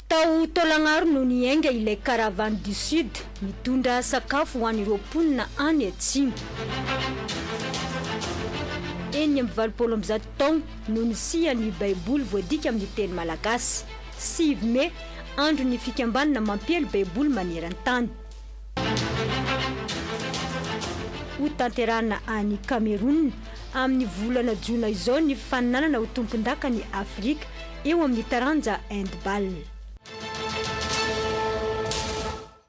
Tao Taolagnaro no niainga ilay Caravane du Sud mitondra sakafo ho an'ireo mponina any atsimo. Enina amby valopolo amby zato taogno no nisian'ny Baiboly voadika amin'ny teny malagasy. Sivy Mey, Andron'ny fikambanana mampiely Baiboly maneran-tany. Hotanterahina any Kamerona, amin'ny volana jona izao ny faninanana ho tompondakan'i Afrika eo amin'ny taranja handball.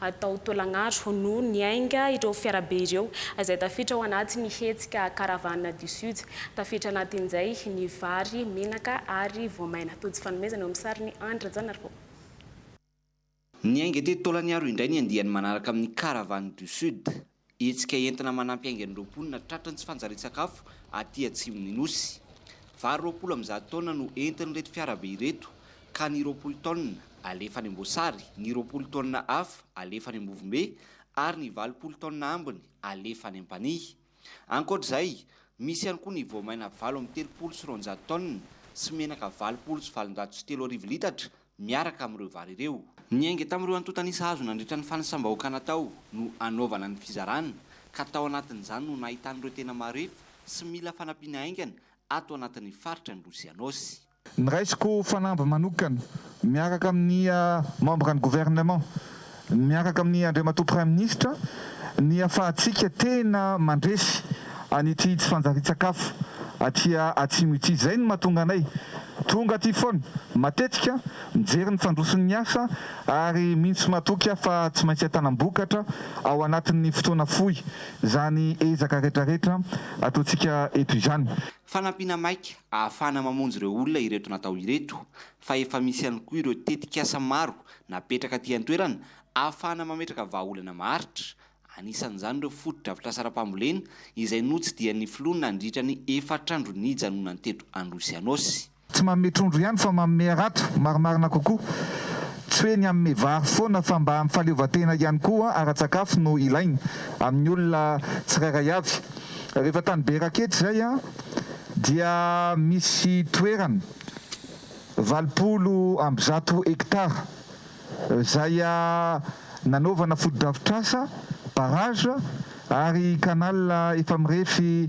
atao taolagnaro no niainga ireo fiarabe ireo izay tafiditra ao anatin'ny hetsika Caravane du Sud. Tafiditra anatin'izay ny vary, menaka ary voamaina. Tojo fanomezana eo amin'ny sarin'i Andry Rajaonarivao. Niainga teto Taolagnaro indray ny andiany manaraka amin'ny Caravane du Sud. Hetsika entina manampy haingan'ireo mponina tratry ny tsy fanjarian-tsakafo aty atsimon'ny Nosy. Vary roapolo amby zato taonina no entin'ireto fiarabe ireto ka ny roapolo taonina alefa any Amboasary, ny roapolo taonina hafa alefa any Ambovombe ary ny valopolo taonina ambiny alefa any Ampanihy. Ankoatra izay, misy ihany koa ny voamaina valo amby telopolo sy roanjato taonina sy menaka valopolo sy valonjato sy telo arivo litatra miaraka amin'ireo vary ireo. Ny ainga tamin'ireo antontan'isa azo nandritra ny fanisam-bahoaka natao no anaovana ny fizarana ka tao anatin'izany no nahitan'ireo tena marefo sy mila fanampiana haingana ato anatin'ny faritra Androy sy Anôsy. Niraisiko fanamby manokana miaraka amin'ny membran'ny gouvernement. Miaraka amin'i Andriamatoa Praiminisitra, nihafahantsika tena mandresy an'ity tsy fanjarian-tsakafo aty Atsimo ity. Izay no mahatonga anay tonga aty foana matetika, mijery ny fandroson'ny asa ary mino sy matoky aho fa tsy maintsy atanam-bokatra ao anatin'ny fotoana fohy izany ezaka retraretra ataontsika eto izany. Fanampiana maika ahafahana mamonjy ireo olona ireto natao ireto fa efa misy ihany koa ireo tetik'asa maro Napetraka aty an-toerana ahafahana mametraka vahaolana maharitra, anisan'izany ireo fotodrafitrasa ara-pambolena izay notsidihan'ny Filoha nandritra ny efatr'andro nijanonany teto Androsy Anôsy. Tsy manome trondro ihany fa manome harato, marimarina kokoa. Tsy hoe ny hanome vary foana fa mba amin'ny fahaleovantena ihany koa ara-tsakafo no ilaina, amin'ny olona tsirairay avy. Rehefa tany Berakety izay dia misy toerana. Valopolo amby zato hectare izay nanaovana fotodrafitrasa, barrage, ary canal efa mirefy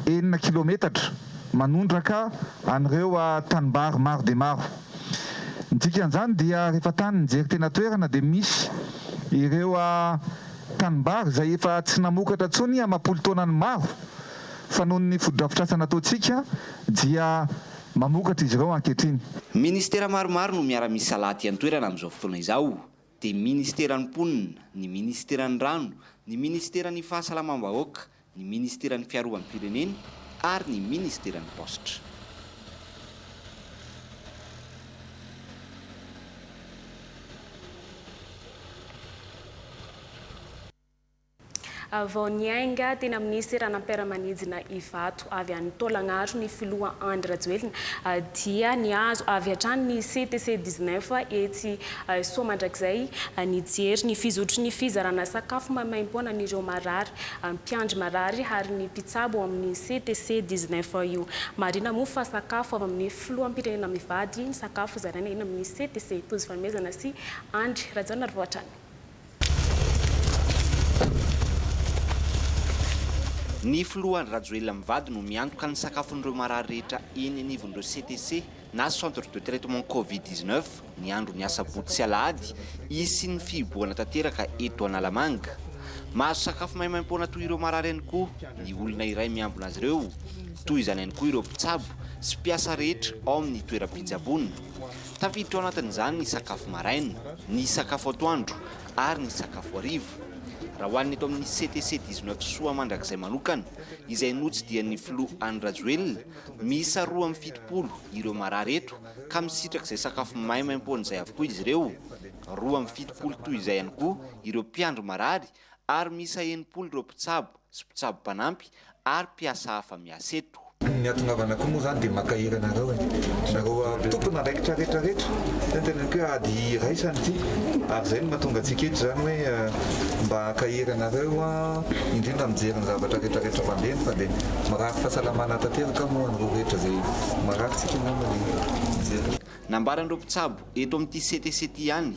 enina kilometatra manondraka an'ireo tanimbary maro dia maro. Ny dikan'izany dia rehefa tany nijery teny an-toerana dia misy ireo tanimbary izay efa tsy namokatra intsony amam-polo taonany maro fa noho ny fotodrafitrasa nataontsika dia mamokatra izy ireo ankehitriny. Ministera maromaro no miara-misalahy aty an-toerana amin'izao fotoana izao, dia Ministeran'ny Mponina, ny Ministeran'ny Rano, ny Ministeran'ny Fahasalamam-bahoaka, ny Ministeran'ny Fiarovam-pirenena ary ny Ministeran'ny Paositra. Vao niainga teny amin'ny seranam-piaramanidina Ivato avy any Taolagnaro ny filoha Andry Rajoelina dia nihazo avy hatrany ny CTC dix neuf etsy Soamandrakizay nijery ny fizotry ny fizarana sakafo maimaimpoana an'ireo marary, mpiandry marary ary ny mpitsabo ao amin'ny CTC dix neuf io. Marihina moa fa sakafo avy amin'ny filoham-pirenena mivady ny sakafo zaraina eny amin'ny CTC. Tojo fanomezana sy Andry Rajaonarivao hatrany. Ny filoha Andry Rajoelina mivady no miantoka ny sakafon'ireo marary rehetra eny anivon'ireo CTC na Centre de Traitement Covid dix neuf ny andron'ny asabotsy sy alahady hisian'ny fihibohana tanteraka eto Analamanga. Mahazo sakafo maimaimpoana toy ireo marary ihany koa ny olona iray miambina azy ireo. Toy izany ihany koa ireo mpitsabo sy mpiasa rehetra ao amin'ny toeram-pitsaboana. Tafiditra ao anatin'izany ny sakafo maraina, ny sakafo atoandro ary ny sakafo hariva. Raha ho an'ny eto amin'ny CTC dix-neuf Soa mandrakizay manokana, izay notsidihan'ny filoha Andry Rajoelina, miisa roa amby fitopolo ireo marary eto ka misitrak'izay sakafo maimaimpoana izay avokoa izy ireo, roa amby fitopolo toy izay ihany koa ireo mpiandry marary ary miisa enimpolo ireo mpitsabo sy mpitsabo mpanampy ary mpiasa hafa miasa eto. Ny hahatongavana koa moa izany dia mankahery anareo e! Nareo tompon'andraikitra rehetra rehetra, zay ny teneniko hoe ady iraisana ity ary zay no mahatonga antsika eto izany hoe mba hankahery anareo indrindra mijery ny zavatra rehetra rehetra mandeha fa dia mirary fahasalamana tanteraka moa anareo rehetra izay marary tsika angamba dia mijery. Nambaran'ireo mpitsabo eto amin'ity CTC ity ihany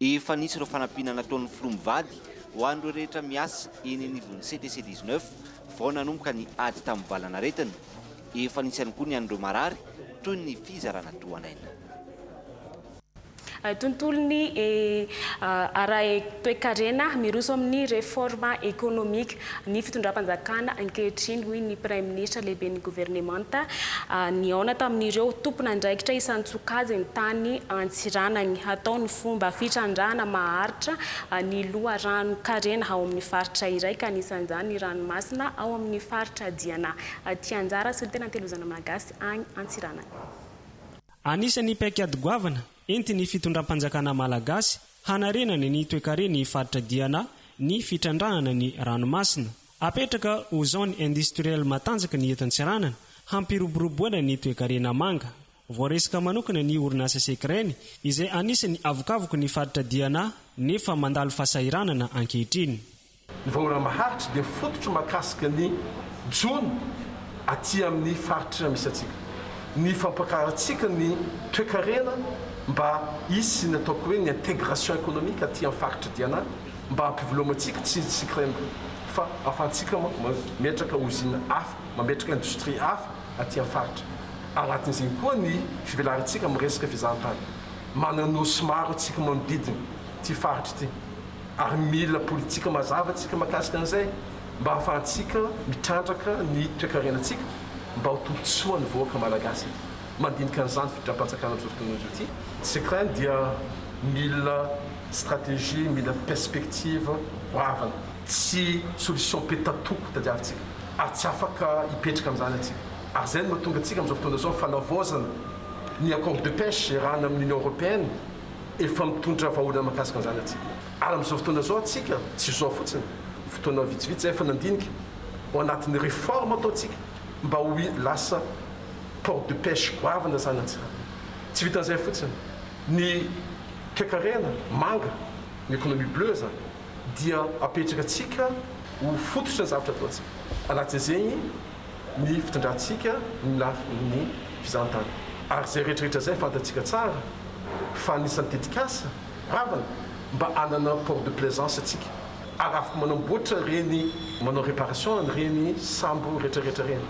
Efa nisy ireo fanampiana nataon'ny filoha mivady ho an'ireo rehetra miasa eny anivon'ny CTC dix-neuf vao nanomboka ny ady tamin'ny valanaretina. Efa nisy ihany koa ny an'ireo marary toy ny fizarana tohan'aina. Tontolon'ny ara-toekarena miroso amin'ny reforme économique. ny fitondram-panjakana ankehitriny, hoy ny Praiminisitra lehiben'ny governemanta nihaona tamin'ireo tompon'andraikitra isan-tsokajiny tany Antsiranany. Hatao ny fomba fitrandrahana maharitra ny loharanon-karena ao amin'ny faritra iray, ka anisan'izany ny ranomasina ao amin'ny faritra Diana aty Anjara sy ny tena Antelozana Malagasy any Antsiranana. Anisan'ny paikady goavana entin'ny fitondram-panjakana malagasy Hanarenany ny toekareny faritra diana ny fitrandrahana ny ranomasina. Apetraka ho zone industrielle matanjaka ny eto Antsiranana, hampiroboroboana ny toekarena manga. Voaresaka manokana ny orinasa Secren, izay anisan'ny avokavoky ny faritra diana nefa mandalo fahasahiranana ankehitriny. Ny vahoana maharitra dia fototry mahakasika ny jono aty amin'ny faritra misy antsika. Ny fampakarantsika ny toekarena mba hisy ny ataoko hoe ny intégration économique aty amin'ny faritra Diana mba hampivelomantsika tsy izy Sicrem fa ahafahantsika mametraka ozina hafa, mametraka indostria hafa aty amin'ny faritra. Anatin'izay koa ny fivelarantsika amin'ny resaka fizahantany. Manana nosy maro antsika manodidina ity faritra ity. ary mila politika mazava tsika makasika an'izay mba ahafahantsika mitrandraka ny toekarenantsika mba ho tombotsoa ny vahoaka Malagasy eto mandinika an'izany fitondram-panjakana tozako toy izao ity tsika dia mila stratégie mila perspective goavana tsy solution petatoko tadiavintsika ary tsy afaka hipetraka amin'izany antsika ary izay no mahatonga antsika amin'izao fotoana izao fanavaozana ny accord de pêche iarahana amin'ny Union Européenne efa mitondra vahaolana mahakasika an'izany antsika. Ary amin'izao fotoana izao antsika, tsy izao fotsiny, fotoana vitsivitsy izay efa nandinika, ao anatin'ny réforme ataontsika, mba ho lasa port de pêche goavana izany antsika. Tsy vitan'izay fotsiny, ny toekarena manga, ny économie bleue izany, dia apetrakantsika ho fototry ny zavatra ataontsika. Anatin'izegny. ny fitondrantsika ny lafiny fizahantany. Ary izay rehetrarehetra izay fantatsika tsara fa anisan'ny tetikasa ravana mba hanana port de plaisance antsika ary afaka manamboatra ireny, manao réparation an'ireny sambo rehetrarehetra ireny.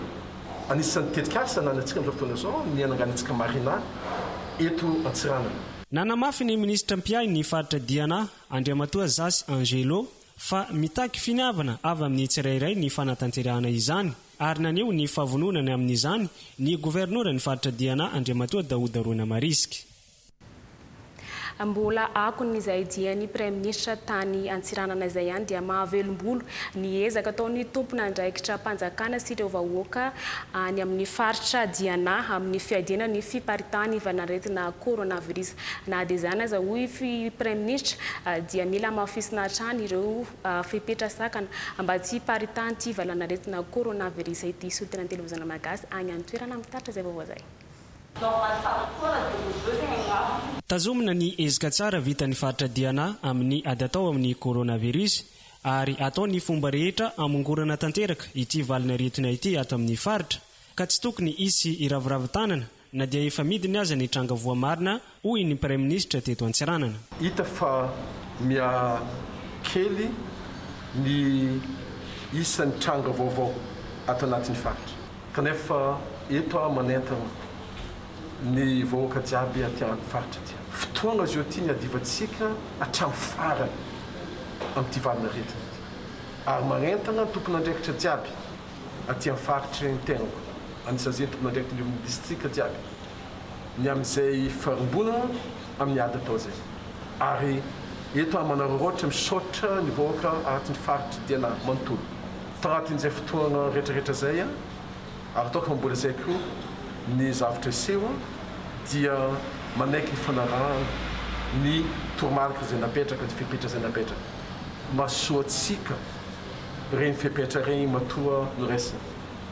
Anisan'ny tetikasa ananantsika amin'izao fotoana izao ny hananganantsika marina eto Antsiranana. Nanamafy ny minisitra mpiahy ny faritra Diana, Andriamatoa Zasy Angelo, fa mitaky finiavana avy amin'ny tsirairay ny fanatanterahana izany, ary naneho ny fahavononany amin'izany ny governoran'ny faritra Diana Andriamatoa Daouda Roina Marisque. Mbola akon'izay dian'ny praiminisitra tany Antsiranana izay ihany dia mahavelom-bolo ny ezaka ataon'ny tompon'andraikitram-panjakana sy ireo vahoaka any amin'ny faritra Diana amin'ny fiadiana ny fiparitan'ivan'aretina coronavirus. Na dia izany aza, hoy ny Praiminisitra, dia mila hamafisina hatrany ireo fepetra sakana mba tsy hiparitahan'ity valanaretina coronavirus ity hisotry ny antelevizona malagasy any an-toerana. Mitarika izay vaovao izay. Tazomina ny ezaka tsara vitan'ny faritra Diana amin'ny ady atao amin'ny coronavirus ary atao ny fomba rehetra hamongorana tanteraka ity valanaretina ity ato amin'ny faritra ka tsy tokony hisy hiraviravin-tanana Na dia efa midiny aza ny tranga voamarina, hoy ny Praiminisitra teto Antsiranana. Hita fa mihakely ny isan'ny tranga vaovao ato anatin'ny faritra. Kanefa eto aho manentana ny vahoaka jiaby aty amin'ny faritra aty. Fotoana zao ity ny hadivantsika hatramin'ny farany amin'ity valin'aretina ity. Ary manentana ny tompon'andraikitra jiaby. aty amin'ny faritry ny tenako, any Sazety mandraikiny irony distrika jiaby, ny amin'izay farimbonana amin'ny ady atao izay. Ary eto aho manararaotra misaotra ny vahoaka aty ny faritry Diana manontolo, tanatin'izay fotoana retraretra izay, ary ataoko fa mbola izay koa ny zavtra hiseho, dia manaiky ny fanarahana ny toromarika izay napetraka, ny fepetra izay napetraka. Mahasoa antsika. Ireny fepetra ireny matoa noraisina.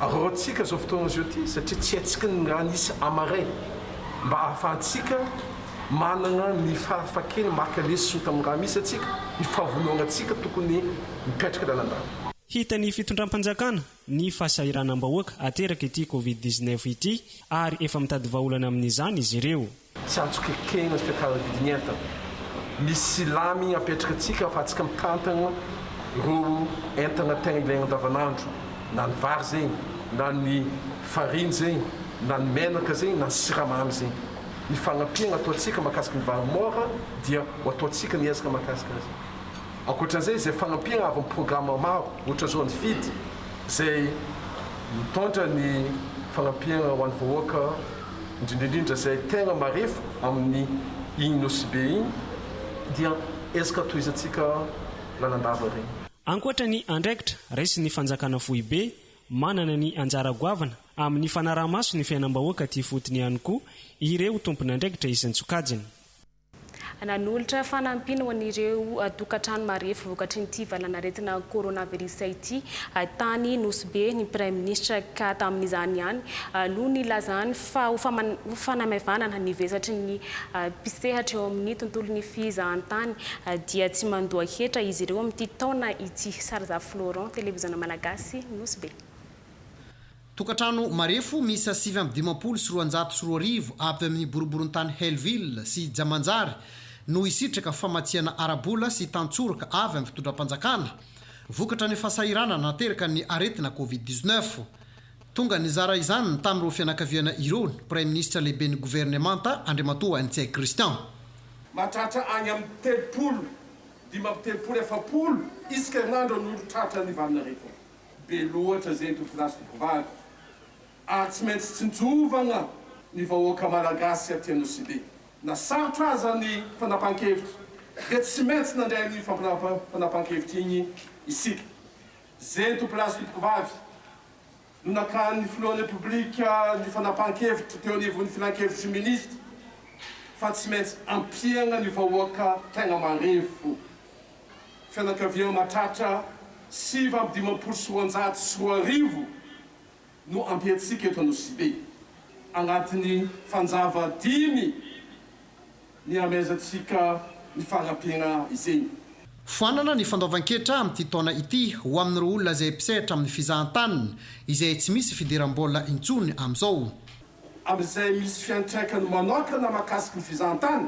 Arahantsika izao fotoana izao ity satria tsy haintsika ny raha nisy à marais mba ahafahantsika manana ny fahafakena maka lesona tamin'ny raha misy antsika, ny fahavonoanantsika tokony mipetraka lalandava. Hita ny fitondram-panjakana ny fahasahiranam-bahoaka ateraka ity Covid dix-neuf ity ary efa mitady vahaolana amin'izany izy ireo. Tsy azoko ekena sy tantara vidiny entana. Misy silamy apetraka antsika fa antsika mitantana ireo entana tegna ilaigna andavanandro, na ny vary zegny, na ny farine zegny, na ny menaka zegny, na ny siramamy zegny. Ny fagnampiagna ataontsika mahakasika ny vary môra dia ho ataontsika ny ezaka mahakasika azy. Ankoatran'izay izay fagnampiagna avy amin'ny programme maro ohatra zao ny Feed izay mitondra ny fagnampiagna ho an'ny vahoaka. indrindra indrindra izay tegna marefo amin'ny igny nosibe igny dia ezaka tohizantsika lalandava regny. Ankoatra ny andraikitra raisin'ny fanjakana foibe, manana ny anjara goavana amin'ny fanaraha-maso ny fiainam-bahoaka aty ifotony ihany koa ireo tompon'andraikitra isan-tsokajiny. Nanolotra fanampiana ho an'ireo tokantrano marefo vokatry ity valanaretina coronavirus ity tany Nosy Be ny Praiminisitra ka tamin'izany ihany no nilazany fa ho fanamaivanana ny vesatry ny mpisehatra eo amin'ny tontolon'ny fizahantany dia tsy mandoa hetra izy ireo amin'ity taona ity. Sarzafy Laurent, Televiziona Malagasy, Nosy Be. Tokantrano marefo miisa sivy amby dimampolo sy roanjato sy roa arivo avy amin'ny boriborintany Hellville sy Jamanjary no hisitraka famatsiana ara-bola sy tan-tsoraka avy amin'ny fitondram-panjakana vokatra ny fahasahiranana naterakan'ny aretina Covid dix-neuf. Tonga nizara izany tamin'ireo fianakaviana ireo ny Praiminisitra Lehiben'ny Governemanta Andriamatoa Ntsay Christian. Mahatratra any amin'ny telopolo, dimy amby telopolo, efapolo isika herinandro ny olon-tratran'ny vanin'aretina. Be loatra zay dokilasy mpivady ary tsy maintsy tsinjovana ny vahoaka malagasy aty Anosibe. Na sarotra aza ny fanapahan-kevitra dia tsy maintsy nandray an'iny fanapahan-kevitra iny isika. Zay dokilasy mpivady no nakan'ny filohan'ny Repoblika ny fanapahan-kevitra teo anivon'ny filankevitry ny minisitra fa tsy maintsy ampiana ny vahoaka tegna marefo. Fianakaviana mahatratra sivy amby dimampolo sy roanjato sy roa arivo no ampiantsika eto Anosibe. Anatin'ny fanjava dimy nihamehezantsika ny fanampiana izeny. Foanana ny fandoavan-ketra amin'ity taona ity ho amin'ireo olona izay mpisehatra amin'ny fizahan-tany izay tsy misy fidiram-bola intsony amin'izao. Amin'izay misy fiantraikany manokana mahakasika ny fizahan-tany.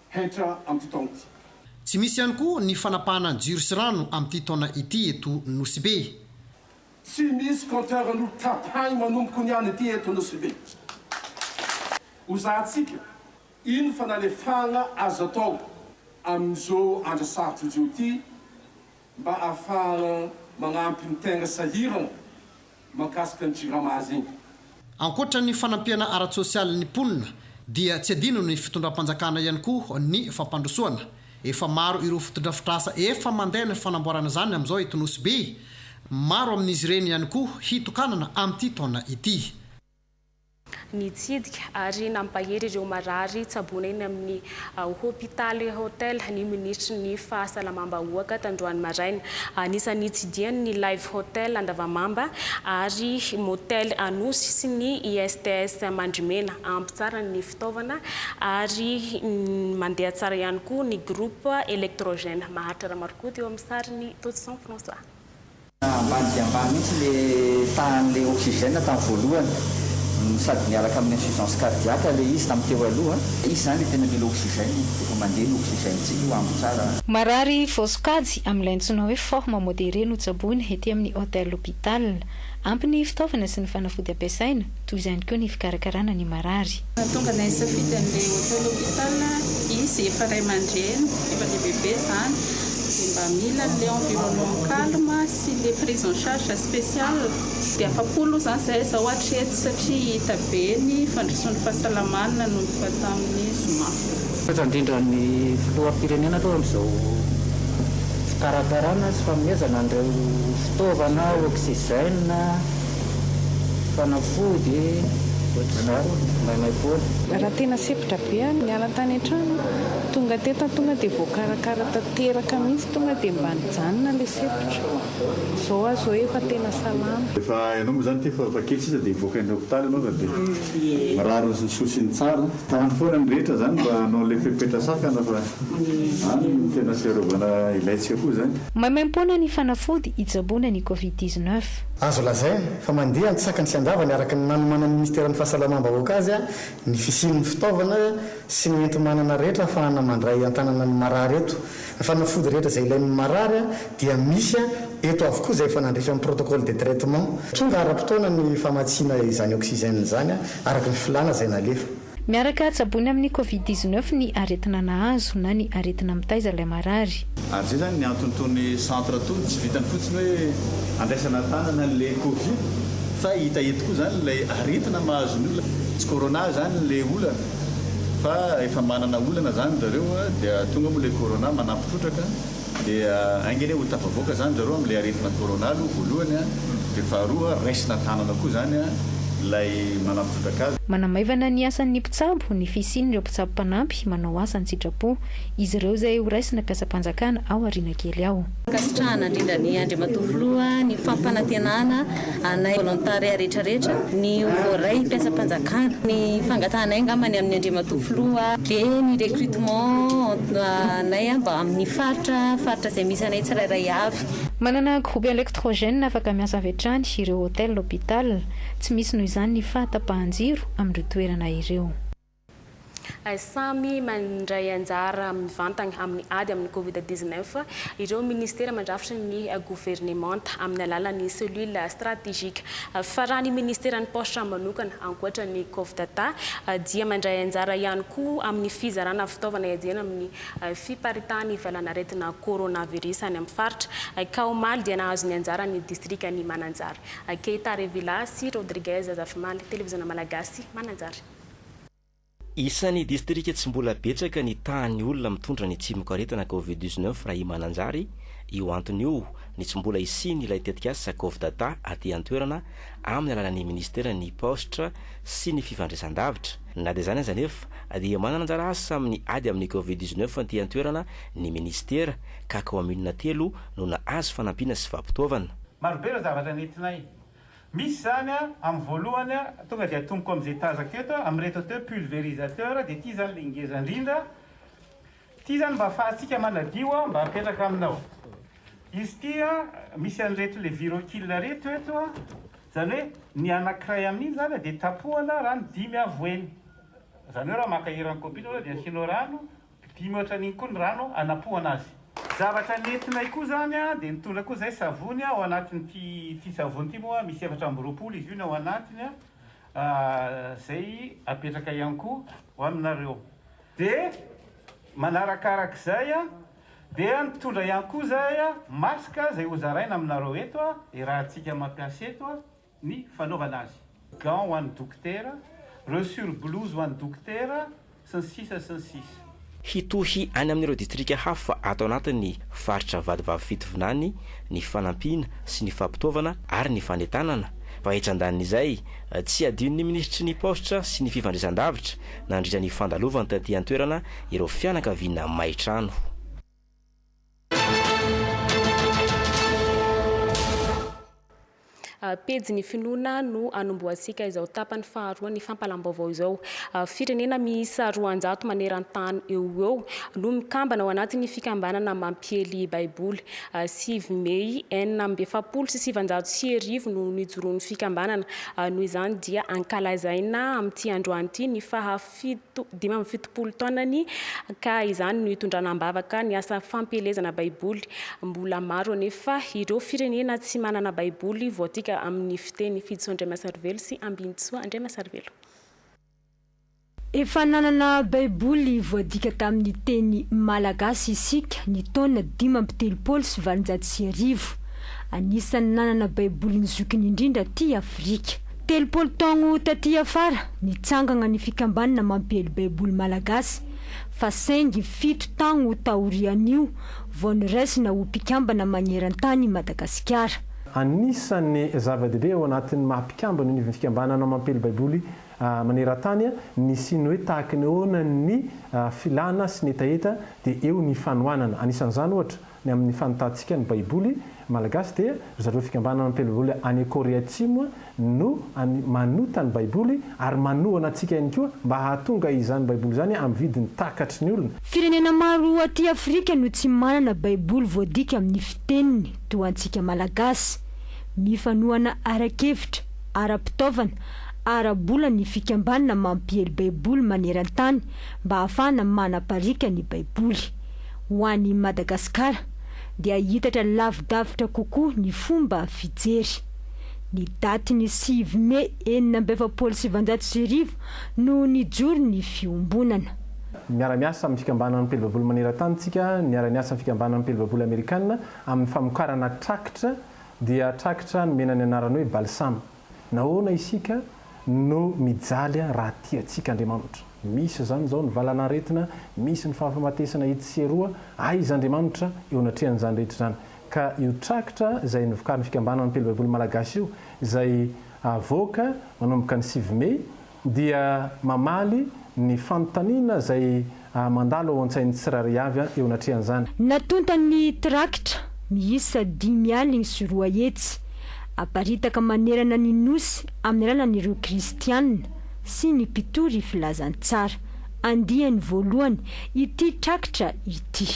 hetra antitanty. Tsy misy ihany koa ny fanapahana ny jiro sy rano amin'ity taona ity eto Nosy-Be. Tsy misy compteur notapahiny manomboka niany ity eto Nosy-Be. Ho zahantsika ino fanalefahana azo atao amin'izao andro sarotra izao ity mba ahafahana manampy ny tegna sahirana mahakasika ny Jirama azy iny. Ankoatra ny fanampiana ara-tsosialy ny mponina dia tsy adino ny fitondram-panjakana ihany koa ny fampandrosoana. Efa maro ireo fotodrafitrasa efa mandeha ny fanamboarana izany amin'izao eto Nosy Be. Maro amin'izy ireny ihany koa hitokanana amin'ity taona ity. nitsidika ary nampahery ireo marary tsaboina eny amin'ny hopitaly Hotel ny minisitry ny Fahasalamam-bahoaka tandroany maraina. Anisan'ny nitsidihany ny Live Hotel Andavamamba ary Motel Anosy sy ny ISTS Mandrimena. Ampy tsara ny fitaovana ary mandeha tsara ihany koa ny groupe électrogène. Maharitra Ramarokota eo amin'ny sariny Totson François. Ambany dia ambany mihitsy le tahan'ilay oxygène tamin'ny voalohany, sady miaraka amin'ny insuffisance cardiaque le izy tamin'ny teo aloha. Izy izany le tena mila oxygène e, rehefa mandeha ny oxygène tsika io ampy tsara. Marary vao sokajy, amin'ilay antsoina hoe forme modérée notsaboina ety amin'ny Hotel Hôpital. Ampy ny fitaovana sy ny fanafody ampiasaina. toy izany koa ny fikarakarana ny marary. Nahatonga anay hisafidy an'ilay Hotel Hopital izy, efa ray aman-dreny, efa lehibe be izany, dia mba mila an'ilay environnement calme sy ilay prise en charge spéciale. Dia afa-po aloha izany izahay izao hatreto satria hita be ny fandrosoan'ny fahasalamany nanomboka tamin'ny zoma. Misaotra indrindra ny Filoham-pirenena aloha amin'izao fikarakarana sy fanomezana an'ireo fitaovana, oxygène, Fanafody e! Ohatr'izany mba anay foana. Raha tena sempotra be aho niala tany an-trano aho, tonga teto aho tonga dia voakarakara tanteraka mihitsy, tonga dia mba nijanona ilay sempotra, izao aho izao efa tena salama. Rehefa ianao moa zany ity efa efa kely sisa dia hivoaka any hopitaly ianao fa dia mirary ny soa sy ny tsara. Tany foana ny rehetra zany mba hanao ilay fepetra sakana fa any no tena fiarovana ilaintsika koa zany. Maimaimpoana ny fanafody hitsaboana ny covid dix-neuf. Azo lazaina fa mandeha antsakany sy andavany araka ny nanomanan'ny Minisiteran'ny Fahasalamam-bahoaka azy ny fisian'ny fitaovana sy ny enti-manana rehetra ahafahana mandray an-tanana ny marary eto. Ny fanafody rehetra izay ilain'ny marary dia misy eto avokoa izay efa nandrify amin'ny protocole de traitement. Tonga ara-potoana ny famatsiana izany oxygène izany araka ny filàna izay nalefa. Miaraka tsaboina amin'ny Covid dix neuf ny aretina nahazo na ny aretina mitaiza ilay marary. Ary zay zany ny antony tony centre tony tsy vitany fotsiny hoe andraisana tanana le covid fa hita eto koa zany lay aretina mahazo ny olona tsy corona zany le olana fa efa manana olana zany zareo dia tonga moa le corona manampitrotraka Dia ainga anie ho tafavoaka zany zareo amin'ilay aretina corona aloha voalohany an, dia faharoa raisina an-tanana koa zany an ilay manampitrotra kazo. Manamaivana ny asan'ny mpitsabo ny fisian'ireo mpitsabo mpanampy manao asa an-tsitrapo. Izy ireo izay ho raisina mpiasam-panjakana ao aoriana kely ao. Ankasitrahana indrindra an'i Andriamatoa Filoha ny fampanantenana anay volontariat rehetra rehetra, ny voaray mpiasam-panjakana, ny fangatahanay angamba ny amin'ny Andriamatoa Filoha, dia ny recrutement anay mba amin'ny faritra faritra izay misy anay tsirairay avy. Manana groupe electrogène afaka miasa avy hatrany ireo hôtel, hôpital. Tsy misy noho izany ny fahatapahan-jiro amin'ireo toerana ireo. Samy mandray anjara mivantana amin'ny ady amin'ny Covid dix-neuf ireo minisitera mandrafitry ny governemanta amin'ny alalan'ny Cellule stratégique. Fa raha ny minisiteran'ny Paositra manokana, ankoatra ny Cofdata, dia mandray anjara ihany koa amin'ny fizarana fitaovana iadiana amin'ny fiparitahan'ny valanaretina coronavirus any amin'ny faritra, ka omaly dia nahazo ny anjarany ny distrikan'i Mananjary. Keita Revilla sy Rodriguez Zafimaly, Televizona Malagasy, Mananjary. Isan'ny distrika tsy mbola betsaka ny tahan'ny olona mitondra ny tsimokaretina Covid dix neuf raha i Mananjary, io antony io ny tsy mbola hisian'ilay tetikasa Covidata aty an-toerana amin'ny alalan'ny minisiteran'ny Paositra sy ny fifandraisandavitra. Na dia izany aza anefa dia manana anjara asa amin'ny ady amin'ny Covid dix neuf aty an-toerana ny minisitera ka kaominina telo no nahazo fanampiana sy fampitaovana. Marobe ireo zavatra nentinay Misy izany a, amin'ny voalohany a, tonga dia atomboko amin'izay tazako eto a, amin'ireto atao hoe pulvérisateur, dia ity izany ilay ngeza indrindra, ity izany mba afahantsika manadio a, mba apetraka aminao. Izy ity a, misy an'ireto ilay virokil ireto eto a, izany hoe ny anankiray amin'iny izany a dia tapohana rano dimy avo eny, izany hoe raha maka eran'ny kopy iny ianao dia asianao rano Dimy ohatran'iny koa ny rano anapohana azy. Zavatra nentinay koa izany a, dia nitondra koa izahay savony a, ao anatin'ity ity savony ity moa misy efatra amby roapolo izy io ny ao anatiny a, izay apetraka ihany koa ho aminareo. Dia manarakarak'izay a, dia nitondra ihany koa izahay a, masque izay hozaraina aminareo eto a, irahantsika mampiasa eto a. ny fanaovana azy, gants ho an'ny dokotera, reo sur blouse ho an'ny dokotera, sy ny sisa sy ny sisa. Hitohy any amin'ireo distrika hafa ato anatin'ny faritra vadivavy fitovinany ny fanampiana sy ny fampitaovana ary ny fanentanana, fa etsy andanin'izay, tsy adinon'ny minisitry ny Paositra sy ny fifandraisandavitra nandritra ny fandalovany taty an-toerana ireo fianakaviana may trano. Pejy ny finoana no anombohantsika izao tapany faharoa ny fampalam-baovao izao. Firenena miisa roanjato maneran-tany eo ho eo no mikambana ao anatin'ny fikambanana mampiely Baiboly. Sivy mey enina amby efapolo sy sivinjato sy arivo no nijoroan'ny fikambanana. Noho izany dia ankalazaina amin'ity androany ity ny faha fito, dimy amby fitopolo taonany, ka izany no itondrana am-bavaka ny asa fampielezana Baiboly. Mbola maro anefa ireo firenena tsy manana Baiboly voatika amin'ny fiteny Fijo Andriamasarivelo sy Ambinintsoa Andriamasarivelo. Efa nanana Baiboly voadika tamin'ny teny malagasy isika ny taona dimy amby telopolo sy valonjato sy arivo. Anisan'ny nanana Baiboly ny zokiny indrindra aty Afrika. Telopolo taogno taty afara, nitsangagna ny fikambanana mampiely Baiboly malagasy, fa saingy fito taogno taorian'io vao noraisina ho mpikambana magneran-tany i Madagasikara. Anisan'ny zava-dehibe ao anatin'ny maha mpikambana ny fikambanana mampiely Baiboly maneran-tany ny siny hoe tahaka ny ahoana ny filana sy ny hetaheta dia eo ny fanohanana. Anisan'izany ohatra, Ny amin' ny fanotantsika ny Baiboly malagasy dia ry zareo Fikambanana Mpiara-Baiboly any Kôrea Atsimo no manota ny Baiboly ary manohana antsika ihany koa mba hahatonga izany Baiboly izany amin'ny vidiny takatry ny olona. Firenena maro aty Afrika no tsy manana Baiboly voadika amin' ny fiteniny toa antsika Malagasy. Mifanohana ara-kevitra, ara-pitaovana, ara-bola ny Fikambanana mampiely Baiboly maneran-tany mba ahafahana manapariaka ny Baiboly. ho an'i Madagasikara dia hiitatra lavidavitra kokoa ny fomba fijery. Ny datin'ny sivy mey enina amby efapolo sy sivanjato sy arivo no nijoro ny fiombonana. Miara-miasa amin'ny fikambanan'ny mpely babolo maneran-tany isika, niara-niasa amin'ny fikambanan'ny mpely babolo amerikana amin'ny famokarana trakitra, dia trakitra nomena ny anarana hoe Balsama. Nahoana isika no mijaly raha tia antsika Andriamanitra? Misy izany izao ny valan'aretina, misy ny fahafamatesana etsy sy eroa, aiza Andriamanitra eo anatrehan'izany rehetra izany? Ka io trakitra izay novokarin'ny fikambanana Mpino Baiboly Malagasy io, izay havoaka manomboka ny sivy mey, dia mamaly ny fanontaniana izay mandalo ao an-tsain'ny tsirairay avy eo anatrehan'izany. Natonta ny trakitra miisa dimy aligny sy roa hetsy, aparitaka manerana ny Nosy amin'ny alalan'ireo Kristianina sy ny mpitory filazantsara, andiany voalohany ity trakitra ity.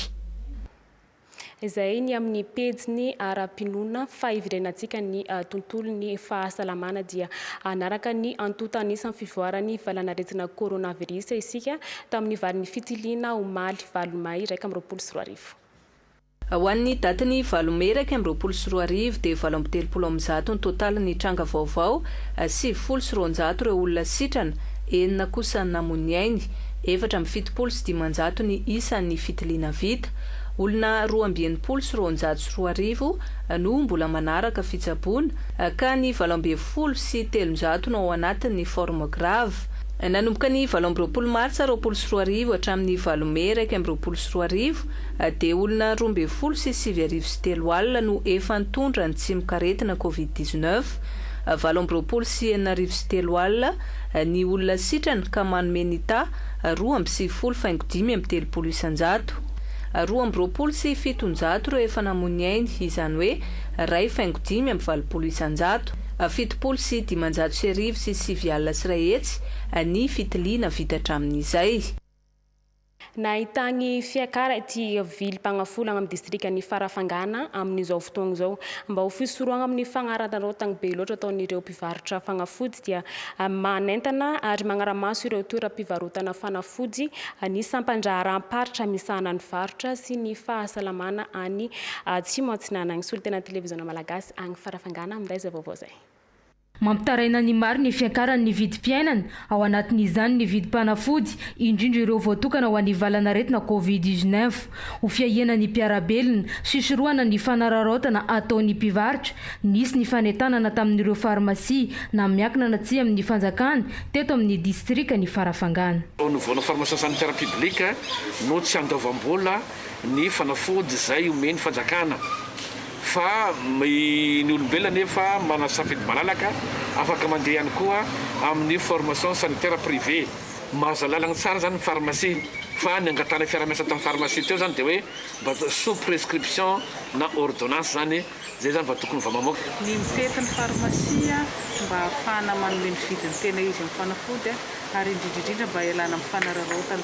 Izay ny amin'ny pejiny ara-pinoana, fa iverenantsika ny tontolon'ny fahasalamana dia hanaraka ny antonta anisan'ny fivoaran'ny valanaretina coronavirus isika tamin'ny valin'ny fitiliana omaly valo may iraika amby roapolo sy roa arivo. Ho an'ny datin'ny valo mey iraika amby roapolo sy roa arivo dia valo amby telopolo amin'ny zato ny totalin'ny tranga vaovao, sivifolo sy roanjato ireo olona sitrana, enina kosa namoy ny ainy. Efatra amby fitopolo sy dimanjato ny isan'ny fitiliana vita. Olona roa amby enimpolo sy roanjato sy roa arivo no mbola manaraka fitsaboana, ka ny valo ambin'ny folo sy telonjato no ao anatin'ny forme grave. Nanomboka ny valo amby roapolo martsa roapolo sy roa arivo hatramin'ny valo mey iraika amby roapolo sy roa arivo, dia olona roa ambin'ny folo sy sivy arivo sy telo alina no efa nitondra ny tsimokaretina covid dix-neuf, valo amby roapolo sy enina arivo sy telo alina ny olona sitrana ka manome ny ta. roa amby sivifolo faingo dimy amby telopolo isan-jato. Roa amby roapolo sy fitonjato ireo efa namoy ny ainy, izany hoe iray faingo dimy amby valopolo isan-jato. Fitopolo sy dimanjato sy arivo sy sivy alina sy iray hetsy ny fitiliana vita hatramin'izay. Nahità ny fiakaran' ity vilim-pagnafolagna amin'ny distrikan'i Farafangana amin'izao fotoagna izao, mba ho fisorohagna amin'ny fagnararaotagn'ny be loatra ataon'ireo mpivarotra fanafody dia manentana ary magnara-maso ireo toeram-pivarotana fanafody ny sampan-draharaham-paritra misahana ny varotra sy ny fahasalamana any Atsimo Atsinanana. Solontenan'ny Televiziona Malagasy agny Farafangana minday izay vaovao izay. Mampitaraina ny maro ny fiakaran'ny vidim-piainana Ao anatin'izany ny vidim-panafody, indrindra ireo voatokana ho an'ny valan'aretina Covid dix neuf. Ho fiahiana ny mpiara-belona, sisorohana ny fanararaotana ataon'ny mpivarotra, nisy ny fanentanana tamin'ireo farmasia na miankina na tsia amin'ny fanjakana teto amin'ny distrikan'i Farafangana. Tao anoloana Pharmacien Sanitaire Public no tsy andoavam-bola ny fanafody izay omen'ny fanjakana. Fa ny olombelona anefa manana safidy malalaka, afaka mandeha ihany koa amin'ny formation sanitaire privé. Mahazo alalagna tsara zany ny pharmacie, fa ny angatahana fiarahamiasa ataon'ny pharmacie teo zany de hoe mba sous prescription na ordonnance zany, zay zany vao tokony vao mamoaka. Ny mifety ny pharmacie mba ahafahana manome ny vidiny tena izy amin'ny fanafody ary indrindra indrindra mba hialana amin'ny fanararaotana.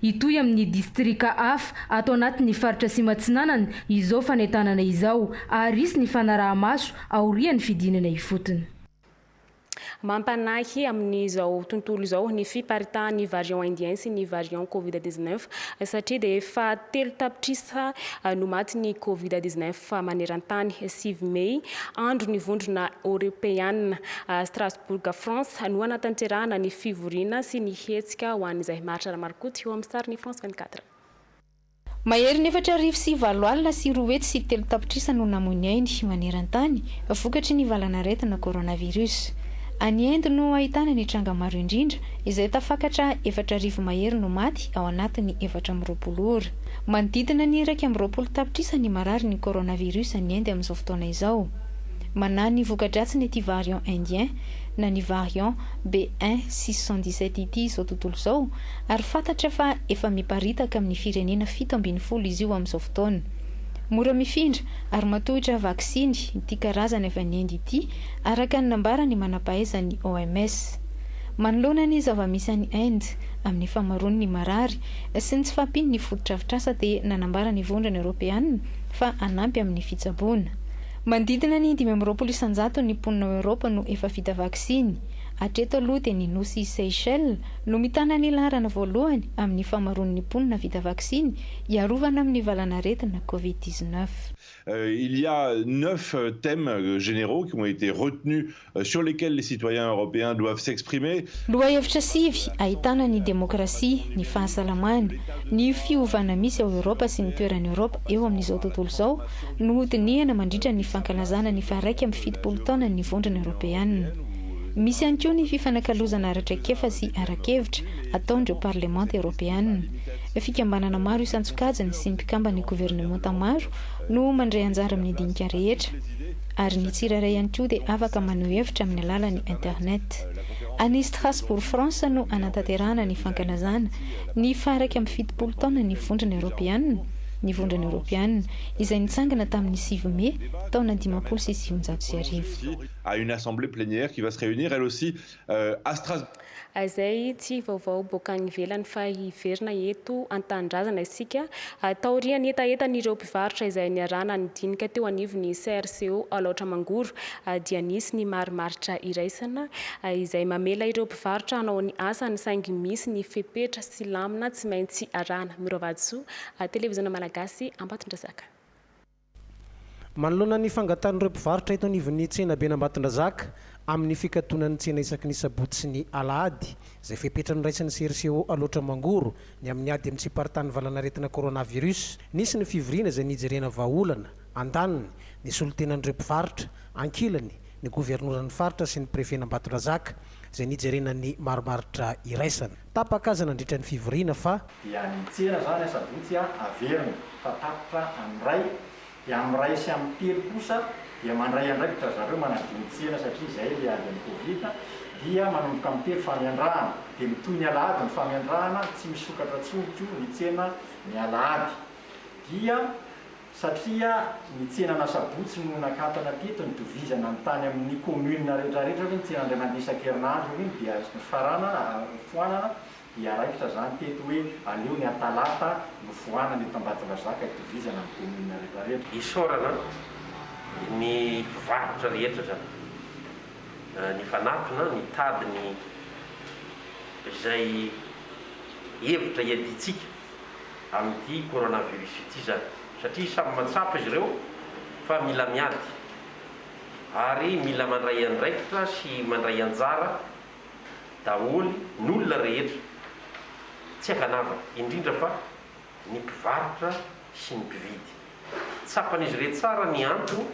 Hitohy amin'ny distrika hafa ato anatin'ny faritra Sima Atsinanana izao fanentanana izao ary hisy ny fanaraha-maso aorian'ny fidinana ifotony. Mampanahy amin'izao tontolo izao ny fiparitahan'ny variant indien sy ny variant covid 19 satria dia efa telo tapitrisa no maty ny covid 19 maneran-tany. Sivy mey, andro ny vondrona eoropeanina à Strasbourg France no hanatanterahana ny fivoriana sy ny hetsika ho an'izay maharitra ara-marokoto eo amin'ny sarin'ny France 24. Maherin'ny efatra arivo sy valo alina sy roa hetsy sy telo tapitrisa no namoy ny ainy maneran-tany vokatry ny valanaretina coronavirus. Any Inde no ahitana ny tranga maro indrindra izay tafakatra efatra arivo mahery no maty ao anatin'ny efatra amby roapolo ora. Manodidina ny iraika amby roapolo tapitrisa ny marary ny coronavirus any Inde amin'izao fotoana izao. Manahy ny voka-dratsiny ity variant indien na ny variant BA six cent dix-sept ity izao tontolo izao, Ary fantatra fa efa miparitaka amin'ny firenena fito ambin'ny folo izy io amin'izao fotoana. Mora mifindra ary matohitra vaksiny ity karazany avy any Inde ity, araka ny nambaran'ny manam-pahaizan'ny OMS. Manoloana ny zava-misy any Inde amin'ny fahamaroan'ny marary sy ny tsy fahampian'ny fotodrafitrasa dia nanambara ny Vondrona Eoropeana fa hanampy amin'ny fitsaboana. Manodidina ny dimy amby roapolo isan-jaton'ny mponina ao Eoropa no efa vita vaksiny. Hatreto aloha dia ny nosy Seychelles, Nomitana ny laharana voalohany amin'ny famaroan'ny mponina vita vaksiny hiarovana amin'ny valanaretina Covid dix-neuf. Il y a neuf thèmes généraux qui ont été retenus sur lesquels les citoyens européens doivent s'exprimer. Lohahevitra sivy ahitana ny demokrasia, ny fahasalamana, ny fiovana misy ao Eoropa sy ny toeran'i Eoropa eo amin'izao tontolo izao no ho dinihana mandritra ny fankalazana ny faha-iraika amby fitopolo taonan'ny Vondrona Eoropeana. Misy ihany koa ny fifanakalozana ara-traikefa sy ara-kevitra ataon'ireo parlemanta eoropeanina. Fikambanana maro isan-tsokajiny sy mpikamban'ny governemanta maro no mandray anjara amin'ny dinika rehetra, ary ny tsirairay ihany koa dia afaka maneho hevitra amin'ny alalan'ny internet. Any Strasbourg, France no hanatanterahana ny fankalazana ny faha-iraika amby fitopolo taonan'ny Vondrona eoropeanina, ny Vondrona eoropeanina izay nitsangana tamin'ny sivy Mey taona dimampolo sy sivinjato sy arivo. à une assemblée plénière qui va se réunir elle aussi euh, à Strasbourg. Izay tsy vaovao boaka any ivelany fa hiverina eto an-tanindrazana isika. Ah, taorian'ny hetahetan'ireo mpivarotra izay niarahana nidinika teo anivon'ny CRCO Alaotra Mangoro ah, dia nisy ny marimaritra iraisana ah, izay mamela ireo mpivarotra hanao ny asany saingy misy ny fepetra sy lamina tsy maintsy arahana. Miro Vatosoa, Televiziona Malagasy, Ambatondrazaka. Manoloana ny fangatan'ireo mpivarotra eto anivon'ny tsenaben'Ambatondrazaka amin'ny fikatonan'ny tsena isaky ny sabotsy sy ny alahady, izay fepetra noraisin'ny CRCO Alaotra Mangoro, ny amin'ny ady amin'ny tsiparitany valanaretina coronavirus, nisy ny fivoriana izay nijerena vahaolana, andaniny, ny solontenan'ireo mpivarotra, ankilany, ny governoran'ny faritra sy ny prefen'Ambatondrazaka, izay nijerena ny marimaritra iraisana. Tapaka aza nandritra ny fivoriana fa. Dia ny hiantsena izany asabotsy averina fa tapitra amin'ny iray, dia amin'ny iray sy amin'ny telo kosa dia mandray andraikitra ry zareo manadio ny tsena satria izay ilay ady amin'ny covid dia manomboka amin'ny telo famiandrahana dia mitohy ny alahady ny famiandrahana tsy misokatra tsony koa ny tsena ny alahady dia satria ny tsenan'asabotsy no nakatona teto nitovizana ny tany amin'ny commune retraretra hoe ny tsena indray mandeha isan-kerinandro hoe iny dia nifarana foanana dia raikitra izany teto hoe aleo ny atalata no foanana eto ambatondrazaka itovizana amin'ny commune retraretra. Isaorana ny mpivarotra rehetra izany nifanatona nitady ny izay hevitra iadiantsika. amin'ity coronavirus ity izany satria samy mahatsapa izy ireo fa mila miady ary mila mandray andraikitra sy mandray anjara daholo ny olona rehetra tsy ankanavaka indrindra fa ny mpivarotra sy ny mpividy. Tsapan'izy irey tsara ny antony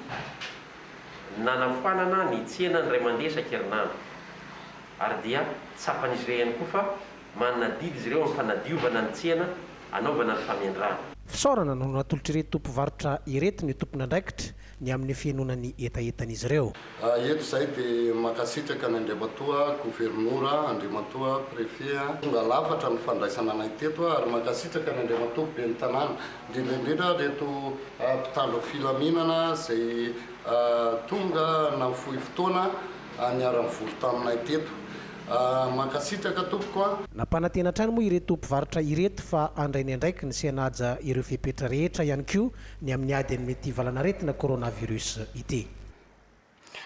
nanafoanana ny tsena indray mandeha isan-kerinandro ary dia tsapan'izy irey ihany koa fa Manana adidy izy ireo amin'ny fanadiovana ny tsena anaovana ny famendrana. Fisaorana no natolotr'ireto tompovarotra ireto ny tompon'andraikitra ny amin'ny fihenoana ny hetahetan'izy ireo. Eto izahay dia mankasitraka an' Andriamatoa Governora, Andriamatoa Préfet an. Tonga lafatra ny fandraisana anay teto ary mankasitraka an' Andriamatoa Ben'ny Tanàna, indrindra indrindra ireto mpitandro filaminana izay tonga nahafohy fotoana niara-nivory taminay teto. Mankasitraka tompoko a. Nampanantena hatrany moa ireto mpivarotra ireto fa handray ny andraikiny sy hanaja ireo fepetra rehetra ihany koa ny amin'ny ady amin'ity valanaretina coronavirus ity.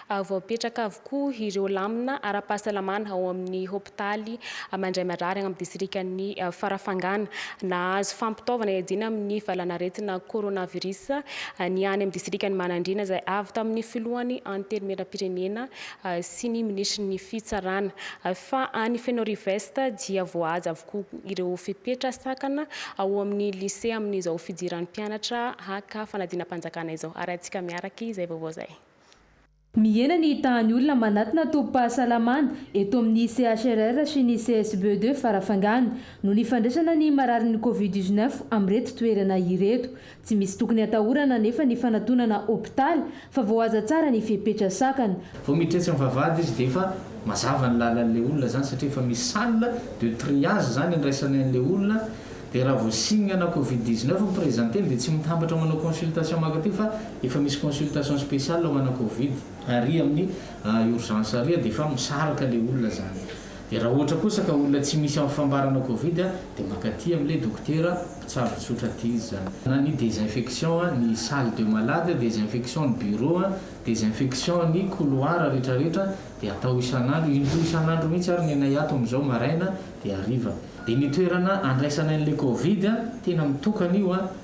Voapetraka avokoa ireo lamina ara-pahasalamana ao amin'ny hopitaly mandray marary any amin'ny distrikan'i Farafangana. Nahazo fampitaovana hiadiana amin'ny valanaretina coronavirus ny any amin'ny distrikan'i Manandriana izay avy tamin'ny filohan'ny Antenimierampirenena, sy ny minisitry ny fitsarana, fa any Fenoriwest dia voahaja avokoa ireo fepetra sakana ao amin'ny lisea amin'izao fidiran'ny mpianatra haka fanadinam-panjakana izao. Harahintsika miaraka izay vaovao izay. Mihena ny tahan'ny olona manatona tobim-pahasalamana eto amin'ny CHRR sy ny CSBE deux Farafangana noho ny fandraisana ny mararin'ny Covid dix-neuf amin'ireto toerana ireto. Tsy misy tokony hatahorana anefa ny fanatonana hopitaly fa voahaza tsara ny fepetra sakana. Vao miditra etsy am vavahady izy dia efa mazava ny lalan'ilay olona izany satria efa misy salle de triage izany andraisany an'ilay olona dia raha vao signe ana covid 19 ny presenter-ny dia tsy mitambatra manao consultation mankaty fa efa misy consultation speciale ho ana covid ary amin'ny urgence ary dia efa misaraka ilay olona izany. Dia raha ohatra kosa ka olona tsy misy amin'ny fambarana covid dia mankaty amin'ilay dokotera mpitsabo tsotra aty izy izany. Na ny desinfection ny salle de malade, desinfection ny bureau, desinfection ny couloir rehetra rehetra dia atao isan'andro, indroa isan'andro mihitsy ary ny anay ato amin'izao maraina dia hariva. Dia ny toerana andraisana an'ilay covid tena mitokana io a!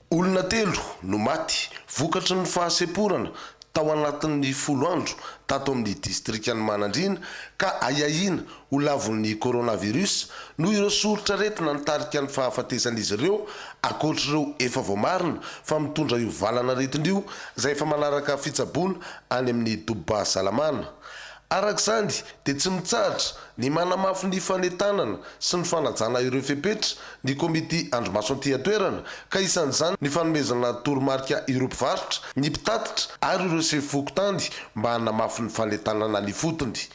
Olona telo no maty vokatry ny fahasemporana tao anatin'ny folo andro tato amin'ny distrikan'i Manandriana ka ahiahiana ho lavon'ny coronavirus noho ireo soritr'aretina nitarika ny fahafatesan'izy ireo ankoatr'ireo efa voamarina fa mitondra io valan'aretina io izay efa manaraka fitsaboana any amin'ny Doba Salamana Araka izany, dia tsy mitsahatra ny manamafy ny fanentanana sy ny fanajana ireo fepetra ny Komity Andrimaso aty an-toerana, ka isan'izany ny fanomezana toromarika ireo mpivarotra, ny mpitatitra ary ireo sefo fokontany mba hanamafy ny fanentanana ny fotony.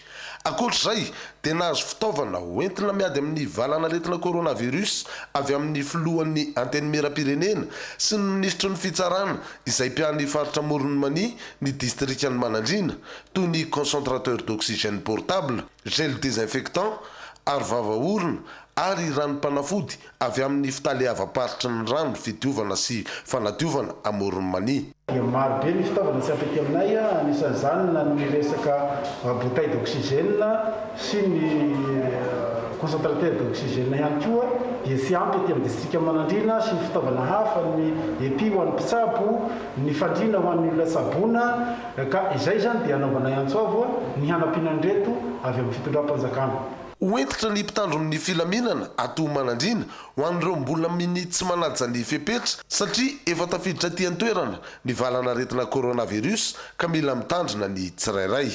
Ankoatra izay, dia nahazo fitaovana hoentina miady amin'ny valanaretina coronavirus avy amin'ny Filohan'ny Antenimierampirenena sy ny Minisitry ny Fitsarana izay mpiahy ny faritra Amoron'i Mania ny Distrikan'i Manandriana, toy ny concentrateur d'oxygène portable, gel désinfectant, aro vava orona ary ranom-panafody avy amin'ny fitaleavam-paritry ny rano fidiovana sy fanadiovana amoron'i Mania. Dia maro be ny fitaovana tsy ampy aty aminay, anisan'izany na ny resaka bouteille d'oxygène sy ny concentrateur d'oxygène ihany koa dia tsy ampy aty amin'ny distrika Manandriana sy ny fitaovana hafa, ny epi ho an'ny mpitsabo, ny fandriana ho an'ny olona tsaboina. Ka izay izany dia anaovanay antso avo ny hanampiana an'ireto avy amin'ny fitondram-panjakana. Ho hentitra ny mpitandron' ny filaminana ato ho manadriana ho an'ireo mbola minia tsy manaja ny fepetra satria efa tafiditra aty an-toerana ny valan'aretina coronavirus ka mila mitandrina ny tsirairay.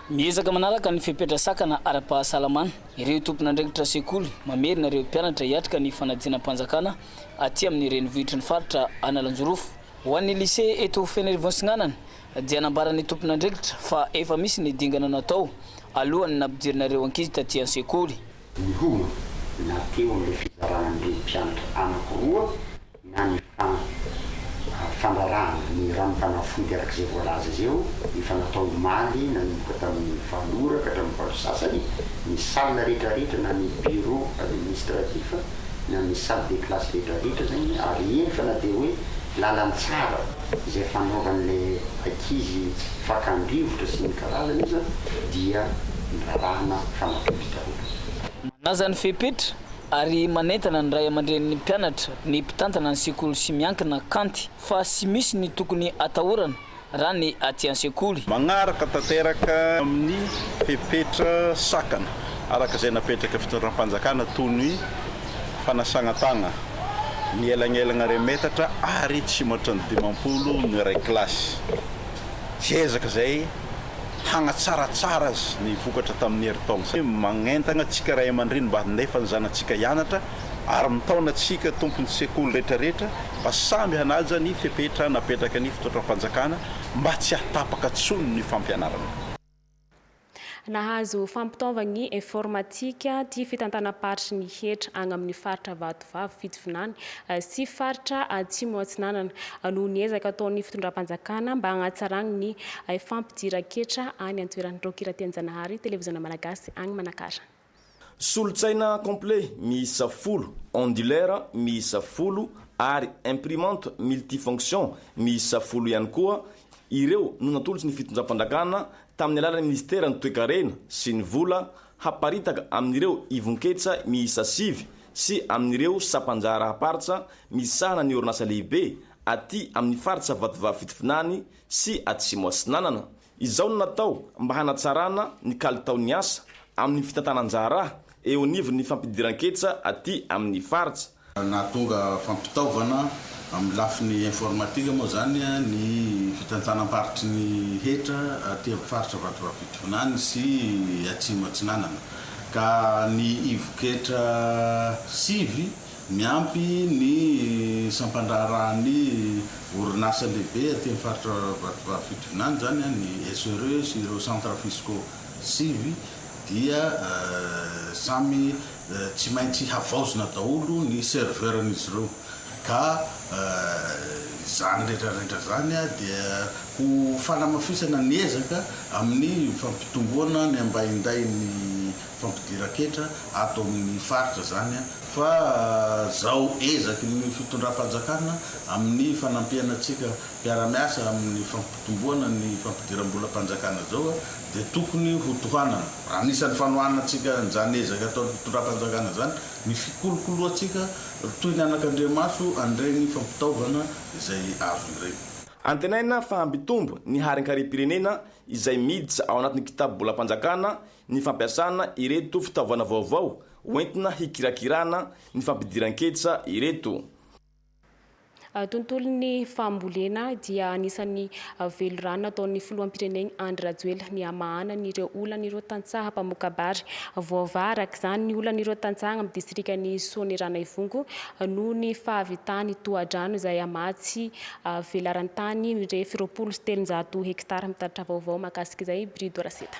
Miezaka manaraka ny fepetra sakana ara-pahasalamana ireo tompon'andraikitra sekoly, mamerina ireo mpianatra hiatrika ny fanadinam-panjakana aty amin'ny renivohitry ny faritra Analanjirofo. Ho an'ny Lycée eto Fenerivontsinanana dia nambaran'ny tompon'andraikitra fa efa misy ny dingana natao alohan'ny nampidirina ireo ankizy taty an-sekoly. Miomana na teo amin'ilay fizarana an'ireny mpianatra anankiroa na ny fandrarahana ny ranom-panafody araka izay voalaza izay eo, efa natao omaly nanomboka tamin'ny valo ora ka hatramin'ny valo sy sasany, ny salle rehetrarehetra na ny bureau administratif na ny salle de classe rehetrarehetra izany ary eny fa na dia hoe lalantsara izay fanaovan'ilay ankizy fakany rivotra sy ny karazany aza dia nirarahana fanafody daholo. Nanaja ny fepetra ary manentana ny ray aman-drenin'ny mpianatra, ny mpitantana ny sekoly sy miankina kanty fa tsy misy ny tokony atahorana raha ny aty an-sekoly. Magnaraka tanteraka amin'ny fepetra sakana araka izay napetraka fitondram-panjakana toy ny fanasagna tagna, ny elagnelagna iray metatra ary tsy matran'ny dimampolo no iray kilasy. Tsy ezaka izay hanatsaratsara azy ny vokatra tamin'ny herintaona izay. Magnentana antsika ray aman-dreny mba handefa ny zanatsika hianatra ary mitaona antsika tompon'ny sekoly rehetrarehetra mba samy hanaja ny fepetra napetraka ny fitondram-panjakana mba tsy hahatapaka tsony ny fampianarana. Nahazo fampitaovagny informatika ty fitantanam-paritry ny hetra agny amin'ny faritra Vato. vavy fitovinany sy faritra Atsimo Atsinanana noho ny ezaka ataon'ny fitondram-panjakana mba hanatsarany ny fampidiran-ketra any an-toerana. Raoky Ratianjanahary, Televiziona Malagasy agny Manakara. Solontsaina complet miisa folo, ondulaire miisa folo ary imprimante multifonction miisa folo ihany koa ireo no natolotr'ny fitondram-panjakana tamin'ny alalan'ny minisiteran'ny Toekarena sy ny Vola haparitaka amin'ireo ivon-ketsa miisa sivy sy amin'ireo sampan-jaharaham-paritsa misahana ny orinasa lehibe aty amin'ny faritra Vatovavy Fitovinany sy Atsimo Atsinanana. Izao no natao mba hanatsarana ny kalitaon'ny asa amin'ny fitantanan-jaharaha eo anivon'ny fampidiran-ketsa aty amin'ny faritra. Nahatonga fampitaovana amin'ny lafiny informatika moa izany ny Fitantsanam-paritry ny hetra aty amin'ny faritra Vatovavy-Pitovinany sy Atsimo Atsinanana, ka ny ivon-ketra sivy miampy ny sampan-draharahan'ny orinasa lehibe aty amin'ny faritra Vatovavy-Fitovinany izany, ny SRE sy ireo centres fiscaux sivy dia samy Tsy maintsy havaozina daholo ny serveur-n'izy ireo, ka izany rehetrarehetra izany dia ho fanamafisana ny ezaka amin'ny fampitomboana ny ambahindain'ny fampidiran-ketra ato amin'ny faritra izany, fa izao ezaky ny fitondram-panjakana amin'ny fanampiana antsika mpiara-miasa amin'ny fampitomboana ny fampidiram-bolam-panjakana izao, dia tokony ho tohanana, anisan'ny fanohanantsika an'izany ezaka ataon'ny fitondram-panjakana izany, ny fikolokoloantsika toy ny anakandriamaso an'ireny fampitaovana izay azo ireny. Antenaina fa hampitombo ny harin-karem-pirenena izay miditra ao anatin'ny kitabobolam-panjakana ny fampiasana ireto fitaovana vaovao hoentina hikirakirana ny fampidiran-ketra ireto. Tontolon'ny fambolena dia anisan'ny velirano nataon'ny filoham-pireneny Andry Rajoelina ny hamahana ny ireo olan'ireo tantsaha mpamokabary. Voavaha araka izany ny olan'ireo tantsaha amin'ny distrikan'i Soanierana Ivongo noho ny fahavitan'ny tohadrano izay hamaha tsy velaran-tany mirefy roapolo sy telonjato hektara. Mitaratra vaovao mahakasika izay i Brido Raseta.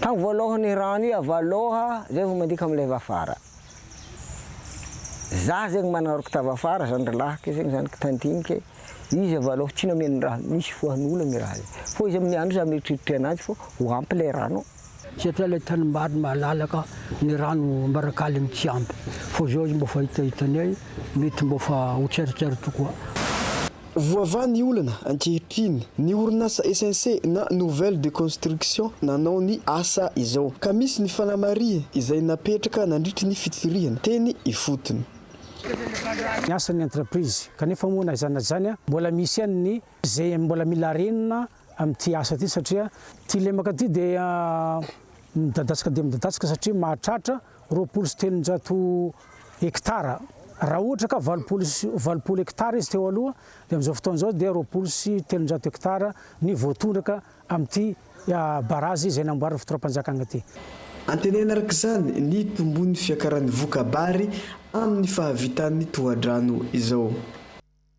Tagny voalohan i rano i avy aloha zay vao mandika am leva afara. Za zegny manaroko tava afara zany ry lahiko zegny zany ka tandinika e, izy avy aloha tsy nameno ra misy foan'olagna i raha zay fô izy amin'ny andro za mieritreritre anazy fô ho ampy le rano ô. Satria le tanimbary malalaka ny rano ambarakaligny tsy ampy fô zao izy mbô fa hitahitanay mety mbô fa ho tseritreritra koa. Voavaha ny olana ankehitriny ny orinasa SNC na Nouvelle de Construction nanao ny asa izao ka misy ny fanamarihany izay napetraka nandritry ny fitsirihana teny ifotony. Ny asan'ny entreprise. Kanefa moa na izany na izany mbola misy ihany ny izay mbola mila renina amin'ity asa ity satria ity lemaka ity dia midadasika dia midadasika satria mahatratra roapolo sy telonjato hektara. Raha ohatra ka valopolo sy valopolo hektara izy teo aloha dia amin'izao fotoana izao dia roapolo sy telonjato hektara ny voatondraka amin'ity barazy izay namboarin'ny fitondram-panjakana ity. Antenaina araka izany ny hitomboan'ny fiakaran'ny voka-bary amin'ny fahavitan'ny tohadrano izao.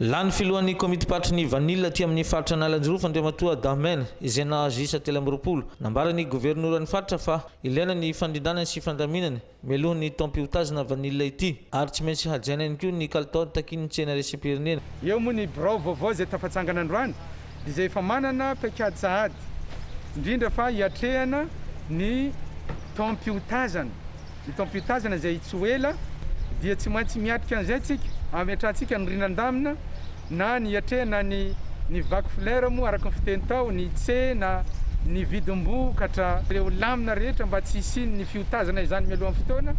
Lany filohan'ny komitim-paritry ny vanila aty amin'ny faritra Analanjirofo Andriamatoa Dahmène izay nahazo isa telo amby roapolo. Nambaran'ny governoran'ny faritra fa ilaina ny fandrindranany sy fandaminany mialohan'ny taom-piotazana vanila ity ary tsy maintsy hajaina ihany koa ny kalitaony takian'ny tsena iraisam-pirenena. Eo moa ny birao vaovao izay tafatsangana androany izay efa manana paikady sahady, indrindra fa hiatrehana ny taom-piotazana. Ny taom-piotazana izay tsy ho ela dia tsy maintsy miatrika an'izay isika, hametrahantsika ny riana an-damina na ny hiatrehana ny ny vaky flera moa araka ny fiteny tao, ny tsena, ny vidim-bokatra, ireo lamina rehetra mba tsy hisian'ny fiotazana izany mialohan'ny fotoana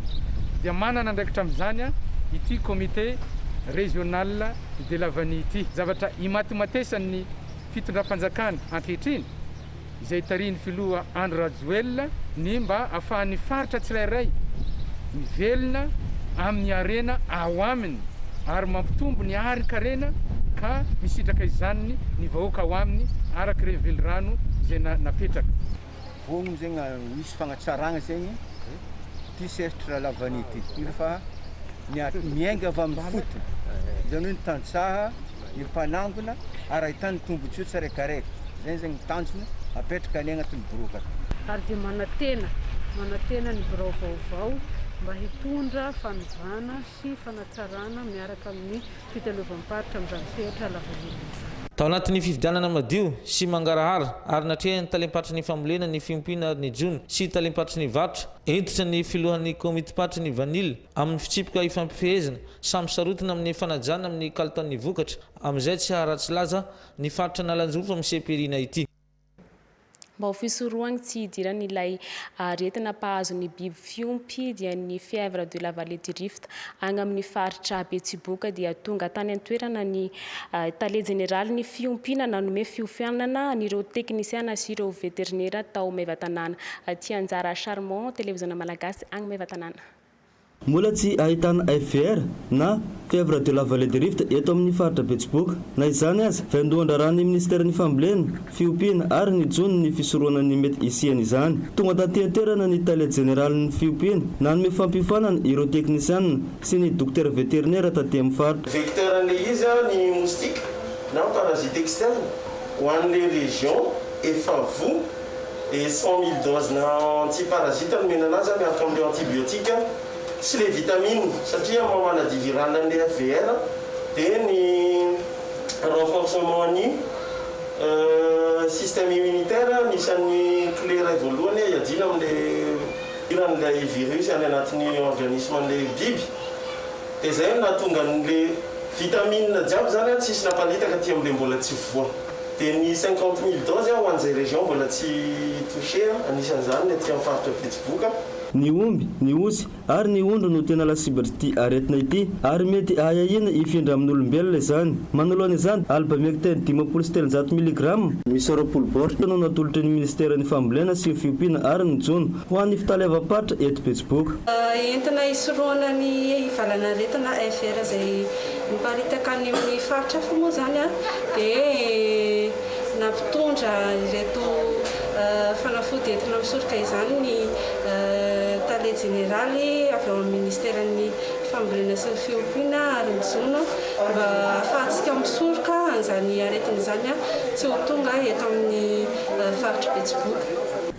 dia manana andraikitra amin'izany ity Comité Régional Dia lavan'i ity zavatra imatimatesan'ny fitondram-panjakana ankehitriny izay tarihin'ny filoha Andry Rajoelina ny mba ahafahan'ny faritra tsirairay mivelona amin'ny harena ao aminy ary mampitombo ny harin-karena ka misitraka izany ny vahoaka ao aminy arak'ireny velirano izay napetraka. Voalohany zegny a, misy fagnatsaragna zegny ty sehatry rahalahy vanihy ty, indreo fa miat- miainga avy amin'ny fotony, zany hoe ny tantsaha, ny mpanangona ary ahitany tombontsoa tsiraikaraiky, zay zegny ny tanjona apetraka any agnatin'ny birao akato. ary dia manantena manantena ny birao vaovao mba hitondra fanovana sy fanatsarana miaraka amin'ny fitaleovam-paritra amin'izany sehatra lavanila izany. Tao anatin'ny fifidianana madio sy mangarahara ary natrehan'ny talem-paritry ny fambolena ny fiompiana ary ny jono sy talem-paritry ny varotra, hentitra ny filohan'ny komitim-paritry ny vanila amin'ny fitsipika ifampifehezana samy sarotiny amin'ny fanajana amin'ny kalitaon'ny vokatra amin'izay tsy haharatsy laza ny faritra Analanjirofo amin'ny CPRINA ity. Mba ho fisorohan'ny tsy hidiran'ilay aretina mpahazo ny biby fiompy dia ny fièvre de la vallée du Rift agny amin'ny faritra Betsiboka dia tonga tany an-toerana ny tale jeneralin'ny fiompiana nanome fiofanana an'ireo teknisiana sy ireo veterinera tao Maevatanàna. Tianjara Charmant, Televiziona Malagasy agny Maevatanàna. Mbola tsy ahitana FVR na Fièvre de la Vallée du Rift eto amin'ny faritra Betsiboka. Na izany aza, vaindohan-draharahan'ny minisiteran'ny Fambolena, Fiompiana ary ny Jono ny fisorohana ny mety hisian'izany. Tonga tantian-toerana ny tale jeneralin'ny Fiompiana nanome fampiofanana ireo teknisianina sy ny dokotera veterinera taty amin'ny faritra. Vecteur an'ilay izy ny moustique na parasite externe ho an'ilay région efa voa. dia cent mille dose na anti parasite no menana azy miaraka amin'ireo antibiotiques sy ilay vitamine satria maha maladie virale an'ilay FVR dia ny renforcement ny système immunitaire anisan'ny clé iray voalohany hiadiana amin'ilay hiran'ilay virus any anatin'ny organisme an'ilay biby dia izay no nahatonga an'ilay vitamine jiaby izany tsisy naparitaka aty amin'ilay mbola tsy voa Dia ny cinquante mille doses ho an'izay région mbola tsy touché, anisan'izany ny aty amin'ny faritra Betsiboka. Ny omby, ny osy ary ny ondry no tena lasibitr'ity aretina ity ary mety ahiahiana hifindra amin'olombelona izany. Manoloana izany, albamectin dimampolo sy telonjato miligrama, miisa roapolo baoritra no natolotry ny minisiteran'ny fambolena sy fiompiana ary ny jono ho an'ny fitaleavam-paritra eto Betsiboka. Entina hisorohana ny hivalan'aretina FR izay Niparitaka any amin'ny faritra hafa moa izany dia nampitondra ireto fanafody entina misoroka izany ny tale jeneraly avy ao amin'ny ministeran'ny fambolena sy ny fiompiana ary ny jono mba hahafahantsika misoroka an'izany aretina izany tsy ho tonga eto amin'ny faritr'i Betsiboka.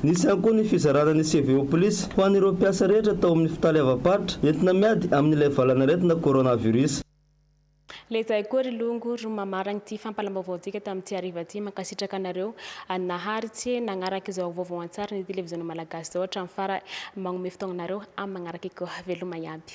Nisy ihany koa ny fizarana ny CV-OPLIS ho an'ireo mpiasa rehetra tao amin'ny fitaleavam-paritra Entina miady amin'ilay valan'aretina coronavirus. Lezay koa ry longo ry mamaragna ity fampalambaovaontsika tamin'ity hariva ity. Mankasitraka anareo naharitsy nagnaraka izao vaovao an-tsarin'ny televiziona malagasy izao hatramin'ny farany. Magnome fotoagna anareo amin'ny magnaraka eto. Veloma iaby.